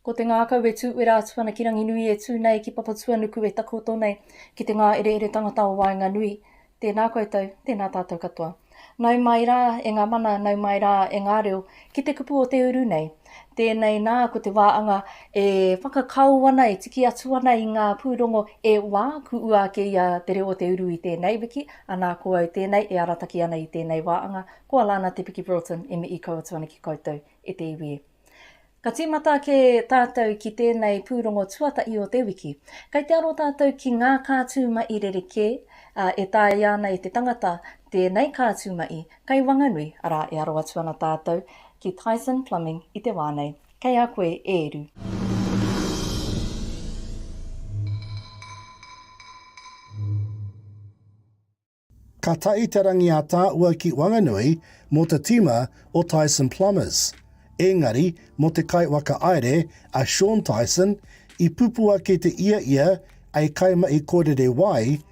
Ko te ngākau e tū wera atu ana ki Ranginui e tū nei ki Papatuanuku e takoto nei ki te ngāereere tangata o waenganui. Tēnā koutou, tēnā tātou katoa. Nau mai rā e ngā mana, nau mai rā e ngā reo ki te kupu o te uru nei. Tēnei nā, ko te wāanga e whakakao ana, e tiki atu ana i ngā pūrongo e wā, kuʻua ake i a Te Reo o te Uru i tēnei wiki, anā ko au tēnei e arataki ana i tēnei wāanga, ko Alana Te Piki Broughton e mihi kau atu ana ki koutou e te iwi. Ka tīmata ake tātou ki tēnei pūrongo tuatahi o te wiki. Kei te aro tātou ki ngā kātū maʻi rerekē, ā, e taea ana e te tangata tēnei kātū maʻi Kei Wanganui, arā e aro atu ana tātou ki Tyson Plumbing i te wā nei. Kei a koe e ru. Ka tahi te rangi a Tāua ki Wanganui mō te tīma o Tyson Plumbers. Ēngari, mō te kaiwaka aere, a Shawn Tyson, i pupua kē te ia ia ei kaimahi kōrere wai,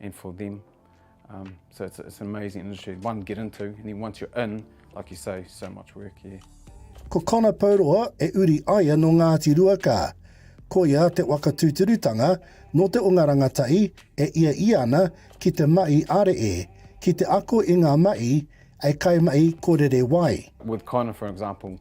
and for them. Um, so it's, it's an amazing industry, one to get into, and then once you're in, like you say, so much work here. Yeah. Ko Connor Pauroa e uri aia no Ngāti Ruakā. Ko ia te waka tūturutanga no te onga rangatahi e ia i ana ki te mahi are e, ki te ako i ngā mahi e kai mahi ko rere wai. With Connor, for example,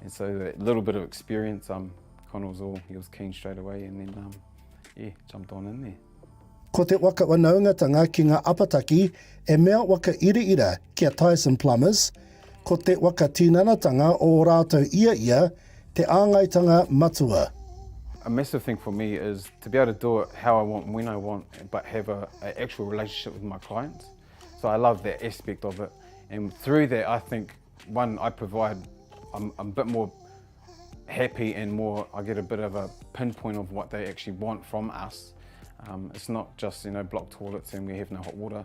And so that little bit of experience, um, Connor was all, he was keen straight away and then, um, yeah, jumped on in there. Ko te waka wanaungatanga ki ngā apataki e mea waka iraira ki a Tyson Plumbers, ko te waka tinanatanga o ō rātou ia ia te āngaitanga matua. A massive thing for me is to be able to do it how I want, when I want, but have a, a actual relationship with my clients. So I love that aspect of it. And through that, I think One, I provide, I'm, I'm a bit more happy and more, I get a bit of a pinpoint of what they actually want from us. Um, it's not just, you know, block toilets and we have no hot water.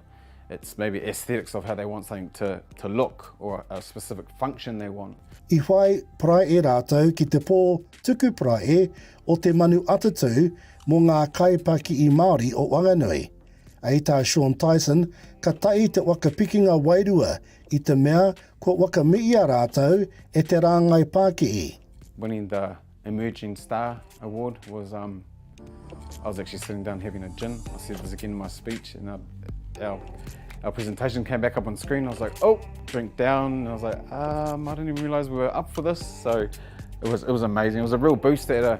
It's maybe aesthetics of how they want something to, to look or a specific function they want. I whai parai e rātou ki te pō tuku parai e o te manu atatū mō ngā kaipaki i Māori o Wanganui. Ei tā Sean Tyson, ka tahi te waka pikinga wairua i te mea kua wakamiia rātou e te rāngai pākihi. Winning the emerging star award was um I was actually sitting down having a gin I said this again in my speech and our our our presentation came back up on screen I was like oh drink down and I was like um I didn't even realise we were up for this so it was it was amazing it was a real boost that a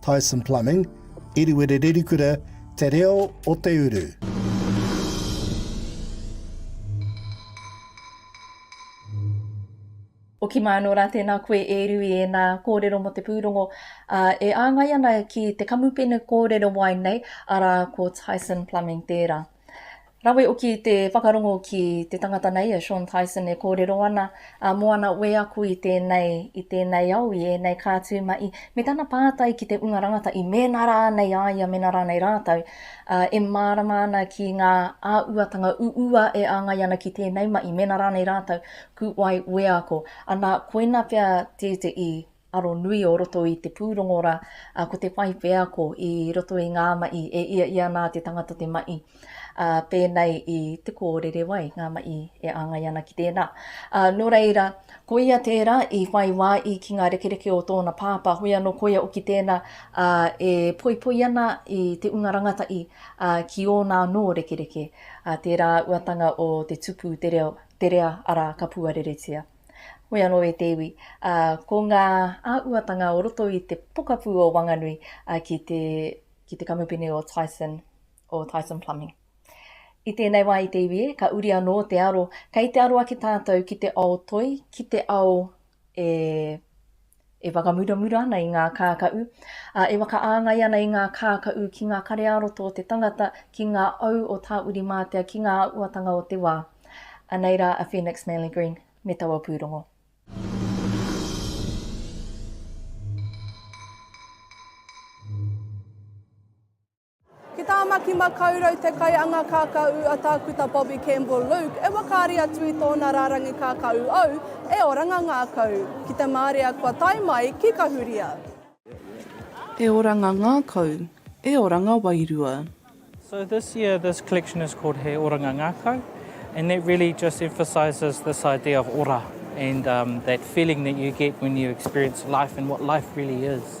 Tyson Plumbing, Iriwere Rerikura, Te Reo o te Uru. Hoki mai anō rā, tēnā koe e Rui, ēnā kōrero mō te pūrongo e āngai ana ki te kamupene kōrero wai nei, arā, ko Tyson Plumbing tērā. Rawe oki te whakarongo ki te tangata nei a Sean Tyson e kōrero ana a Moana Wēaku i tēnei, i tēnei ao, i ēnei kā tū mahi, me tana pātai ki te unga rangata i mēnā rānei a ia, mēnā rānei rātou, ā, e mārama ana ki ngā āuatanga uua e āngai ana ki tēnei mahi, mēnā rānei rātou, kūwai wēako. Anā, koina pea tētehi. aro nui o roto i te pūrongo rā, ā, ko te whai wheako i roto i ngā maʻi e ia ia ana te tangata te maʻi, ā, pēnei i te kōrere wai, ngā maʻi e āngai ana ki tēnā. Ā, nō reira, koia tērā i whai wā i ki ngā rekereke o tōna pāpā, hoi anō koia hoki tēnā, ā, e poipoi ana i te unga rangatahi, ā, ki ōna anō rekereke, ā, tērā uatanga o te tupu te reo, te rea, arā, ka puareretia. Hoi anō e te iwi, ā, ko ngā āhuatanga o roto i te pokapū o Wanganui ki te, ki te kamupene o Tyson, o Tyson Plumbing. I tēnei wā i te iwi e, ka uri anō te aro, kei te aro ake tātou ki te ao toi, ki te ao e e whakamuramura ana i ngā kākaʻu, ā, e whakaāngai ana i ngā kākaʻu ki ngā kare-ā-roto o te tangata, ki ngā au o Tāwiri-mātea, ki ngā auatanga o te wā. Anei rā a Phoenix Manly Green me taua pūrongo. Ki Tāmaki Makaurau te kaianga kākāū a Tākuta Bobby Campbell Luke e wakaari atu i tōna rārangi kākāū Au e Oranga Ngākau ki te mārea kua tae mai ki Kahuria. E Oranga Ngākau, e Oranga Wairua. So this year this collection is called He Oranga Ngākau and that really just emphasises this idea of ora and that feeling that you get when you experience life and what life really is.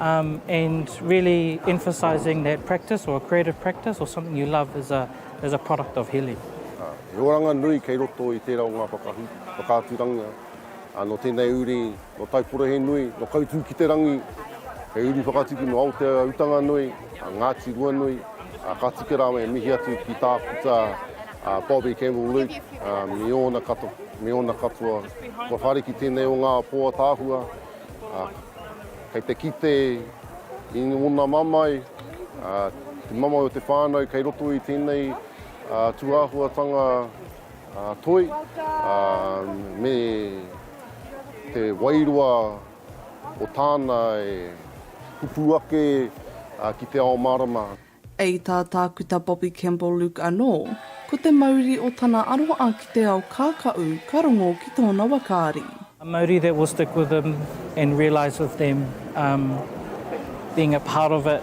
Um, and really emphasizing that practice or a creative practice or something you love is a, is a product of healing. Uh, he oranga nui kei roto i tērā o ngā whakahu, whakaaturangia. Uh, no tēnei uri, no Taipora he nui, no Kautū ki te rangi, he uri whakatuki no Aotea utanga nui, uh, Ngāti Ruanui, uh, ka tika rāwa e mihi atu ki tākuta uh, Bobby Campbell Luke, uh, me ōna katoa, me ōna katoa. Kua whare ki tēnei o ngā pō atāhua, Kei te kite i ngona mamae, te mamae o te whānau kei roto i tēnei tūāhuatanga toi me te wairua o tāna e pupū ake ki te ao mārama. I tā Tākuta Bobby Campbell Luke anō, ko te mauri o tana aroha ki te ao kākaʻu ka rongo ki tōna wakaari. A mauri that will stick with them and realise with them um being a part of it,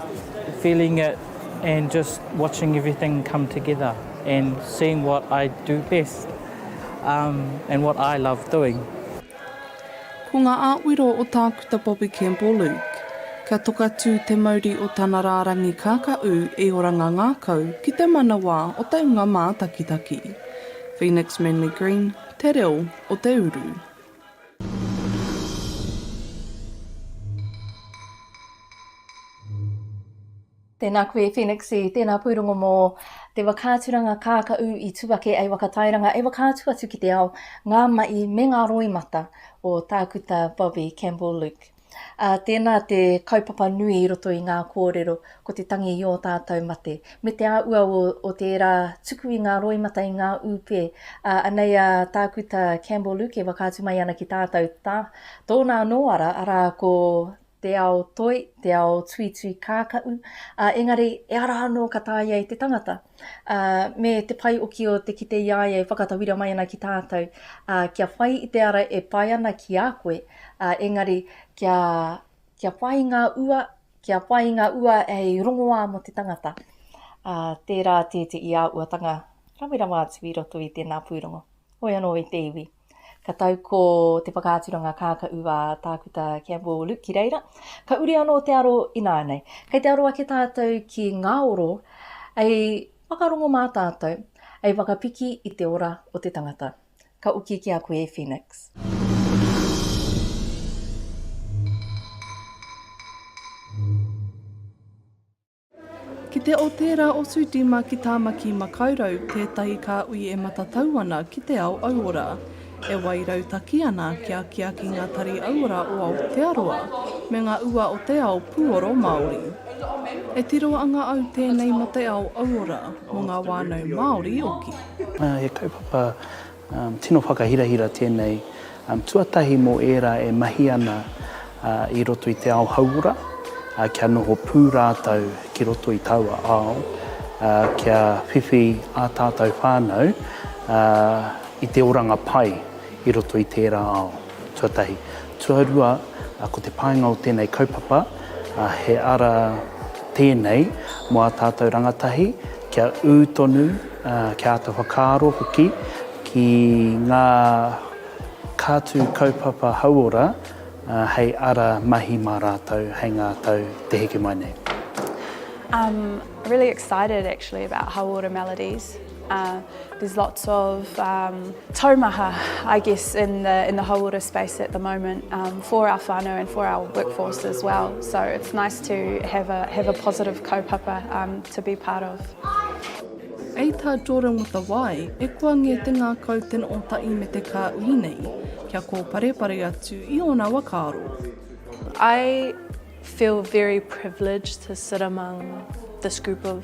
feeling it and just watching everything come together and seeing what I do best um and what I love doing. Ko ngā āwiro o Tākuta Bobby Campbell Luke, kia tokatū te mauri o tana rārangi kākaʻu e Oranga Ngākau ki te manawa o te hunga mātakitaki. Phoenix Manly Green, Te Reo o te Uru. Tēnā koe Phenixie, tēnā pūrongo mō Te Whakaaturanga Kākaʻu i tū ake ai Whakatairanga e whakaatu atu ki te ao, ngā maʻi me ngā roimata o Tākuta Bobby Campbell Luke. Ā, tēnā te kaupapa nui i roto i ngā kōrero, ko te tangi i ō tātou mate, me te āhua o o tērā tuku i ngā roimata i ngā ūpē. Ā, anei a Tākuta Campbell Luke e whakaatu mai ana ki tātou, tā, tōna anō ara, arā, ko te ao toi, te ao tuitui kākaʻu, ā, engari e ara anō ka tāia e te tangata, ā, me te pai oki o te kite i a ia e whakatauira mai ana ki tātou, ā, kia whai i te ara e pai ana ki a koe, ā, engari kia, kia whai i ngā ua, kia whai i ngā ua hei rongoā mō te tangata, ā, tērā tēteʻi āhuatanga rawe rawa atu i roto i tēnā pūrongo. Hoi anō i te iwi. Ka tau ko te whakaaturanga kākaʻu a Tākuta Campbell Luke ki reira. Ka uri anō te aro ināianei. Kei te aro ake tātou ki ngā oro hei whakarongo mā tātou, hei whakapiki i te ora o te tangata. Ka oki ki a koe e Phoenix. Ki te o tērā o Sudima ki Tāmaki Makaurau tētahi kāhui e matatau ana ki te ao auora. E wai rautaki ana kia akiaki ngā tari auora o Aotearoa me ngā ua o te ao pūoro Māori. E tiro anga au tēnei mō te ao auora, mō ngā wānau Māori oki. He kaupapa Tino whakahirahira tēnei tuatahi mō ērā e mahi ana i roto i te ao hauora, kia noho pū rātou ki roto i taua ao, kia whiwhi ā tātou whānau i te oranga pai i roto i tērā ao. Tuatahi. Tuarua, ko te painga o tēnei kaupapa, he ara tēnei mō ā tātou rangatahi kia ū tonu, kia āta whakaaro hoki ki ngā kātū kaupapa hauora hei ara mahi mā rātou hei ngā tau te heke mai nei. I'm really excited actually about Hauora Melodies. Uh, there's lots of um, taumaha, I guess, in the, in the hauora space at the moment um, for our whānau and for our workforce as well. So it's nice to have a, have a positive kaupapa um, to be part of. Ei tā Jordan Watawai, e kua ngē te ngākau tena o tai me te kā ui nei, kia kōparepare atu i ōna wakaaro. I feel very privileged to sit among this group of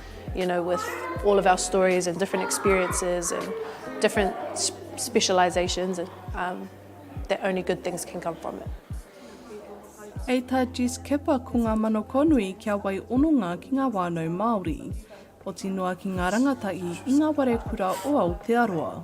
You know, with all of our stories and different experiences and different specialisations, um, that only good things can come from it. Hei tā Jess Kipper ko ngā manakonui kia wai ononga ki ngā wānau Māori, poti noa ki ngā rangatahi i ngā ware kura o Aotearoa.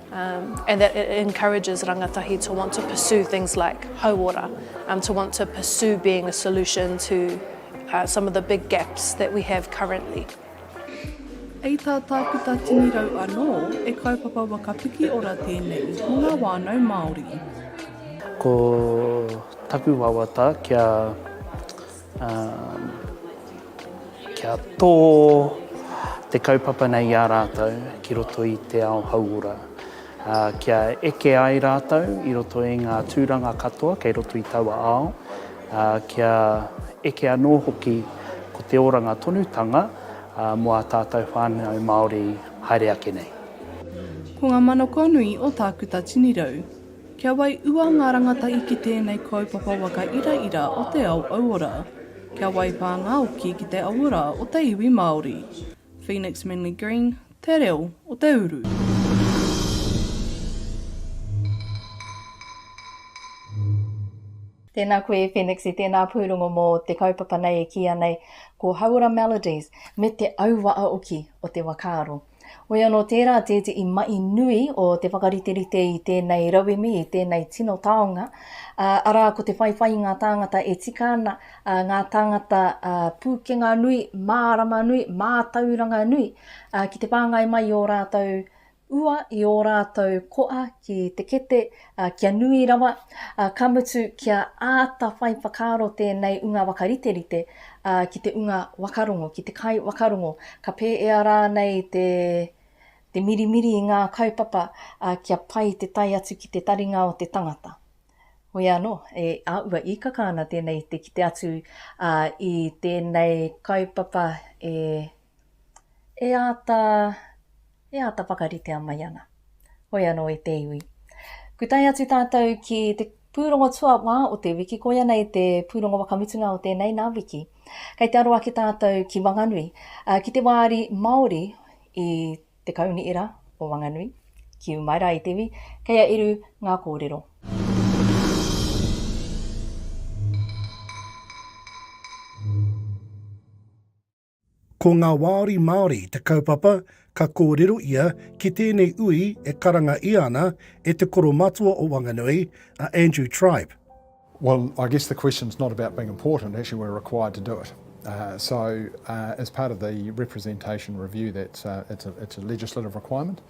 And that it encourages rangatahi to want to pursue things like hauora, to want to pursue being a solution to some of the big gaps that we have currently. Hei tā Tākuta Tini Rau anō, he kaupapa waka pikiora tēnei mō ngā whānau Māori. Ko taku wawata kia Kia tō te kaupapa nei i a rātou ki roto i te ao hauora. Kia eke ai rātou i roto i ngā tūranga katoa kei roto i taua ao. Kia eke anō hoki ko te oranga tonutanga mō ā tātou whānau Māori haere ake nei. Ko ngā manoko nui o Tākuta Tinirau. Kia waiua ngā rangatahi ki tēnei kaupapa waka iraira o te ao auora. Kia waipā ngā oki ki te auora o te iwi Māori. Phoenix Manly Green, Te Reo o te Uru. Tēnā koe e Phoenix i tēnā pūrongo mō te kaupapa nei e kīia nei ko Hauora Melodies me te auaoki o te wakaaro. Hoi anō tērā tētehi mahi nui o te whakariterite i tēnei rauemi, i tēnei tino taonga, ā, arā ko te whaiwhai i ngā tāngata e tika ana, ā, ngā tāngata, ā, pūkenga nui, mārama nui, mātauranga nui, ā, ki te whāngai mai i ō rātou ua, i ō rātou koa ki te kete, ā, kia nui rawa, ā, ka mutu kia āta whai whakaaro tēnei unga wakariterite, ā, ki te unga wakarongo, ki te kai wakarongo, ka pēea rānei te, te mirimiri i ngā kaupapa, ā, kia pai te tae atu ki te taringa o te tangata. Hoi anō, e āua īkaka ana tēnei te kite atu, ā, i tēnei kaupapa e e āta, e āta whakaritea mai ana. Hoi anō e te iwi. Kua tae atu tātou ki te pūrongo tuawhā o te wiki, koia nei te pūrongo whakamutunga o tēnei nā wiki. Kei te aro ake tātou ki Wanganui, ā, ki te wāri Māori i te kaunii rā o Wanganui, ki Umaira i te iwi, kei a Eru ngā kōrero. Ko ngā wāri Māori te kaupapa ka kōrero ia ki tēnei ui e karanga ia ana e te koro matua o Wanganui, a Andrew Tribe. Well, I guess the question is not about being important, actually we're required to do it. So, as part of the representation review, that's a legislative requirement.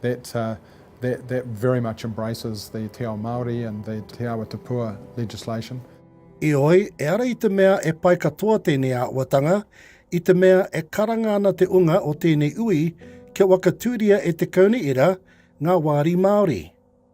That that that very much embraces the Te Ao Māori and the Te Awa Tupua legislation. Ioi, e ara i te mea e pai katoa tēnei āhuatanga, i te mea e karanga ana te unga o tēnei ui kia wakatūria e Te Kauniira ngā wāri Māori.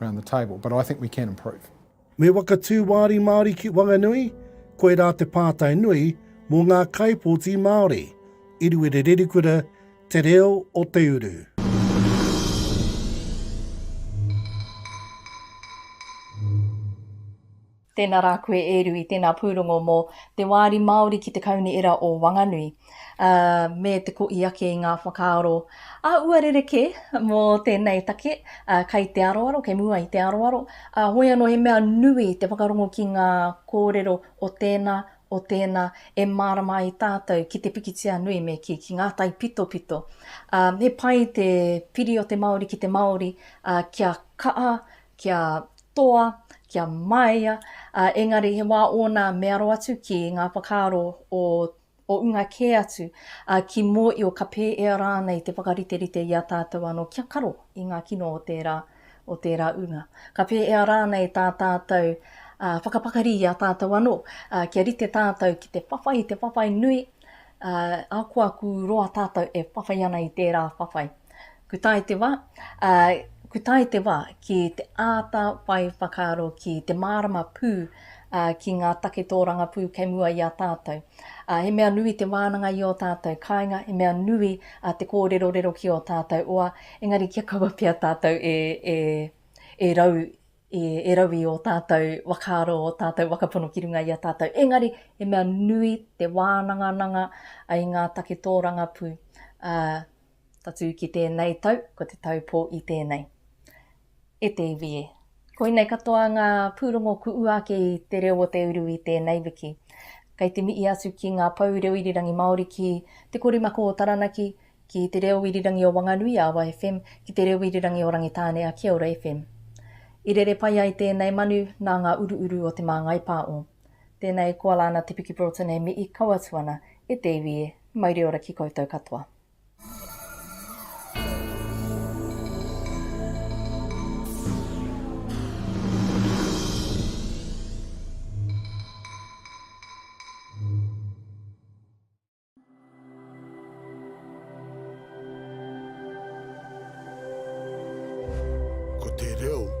around the table, but I think we can improve. Me whakatū wāri Māori ki Wanganui, koirā te pātai nui mō ngā kaipōti Māori, i Ruere Rerikura, Te Reo o Te Uru. Tēnā rā koe e Rui, tēnā pūrongo mō Te Wāri Māori ki te Kauniera o Wanganui, ā, me te kō i ake i ngā whakaaro ā-ua rerekē mō tēnei take, ā, kai te aroaro, kei mua i te aroaro, ā, hoi anō he mea nui te whakarongo ki ngā kōrero o tēnā, o tēnā, e mārama ai tātou ki te pikitia nui me kī, ki ngā taipitopito. Ā, he pai te piri o te Māori ki te Māori, ā, kia kaha, kia toa, kia maea, ā, engari he wā ōna me aro atu ki ngā whakaaro o o unga kē atu, ā, ki mōio ka pēea rānei te whakariterite i a tātou anō kia karo i ngā kino o tērā, o tērā unga. Ka pēea rānei tā tātou, ā, whakapakari i a tātou anō, ā, kia rite tātou ki te whawhai, te whawhai nui, Ā, akoaku roa tātou e whawhai ana i tērā whawhai. Ku tae te wā, ā, ku tae te wā ki te āta whai whakaaro ki te mārama pū, ā, ki ngā take tōrangapū kei mua i a tātou. Ā, he mea nui te wānanga i ō tātou kāinga, he mea nui, ā, te kōrerorero ki ō tātou oa, engari kia kaua pea tātou e, e, e rau i erau i ō tātou whakaaro, ō tātou whakapono ki runga i a tātou. Engari, he mea nui te wānangananga i ngā take tōrangapū, ā, tatū ki tēnei tau, ko te tau pō i tēnei. E te iwi e. Koinei katoa ngā pūrongo ku ua ake i Te Reo o Te Uru i tēnei wiki. Kei te mihi atu ki ngā pou reo irirangi Māori ki Te Korimako o Taranaki, Ki te reo irirangi o Wanganui a Awa FM, ki te reo irirangi o Rangitāne a Kia Ora FM. I rere pai ai tēnei manu nā ngā uruuru o Te Māngai Pā o. Tēnei koa la na Te Piki Broughton e mii kau atu ana e te iwi e, mauri ora ki koutou katoa. Ko te reo.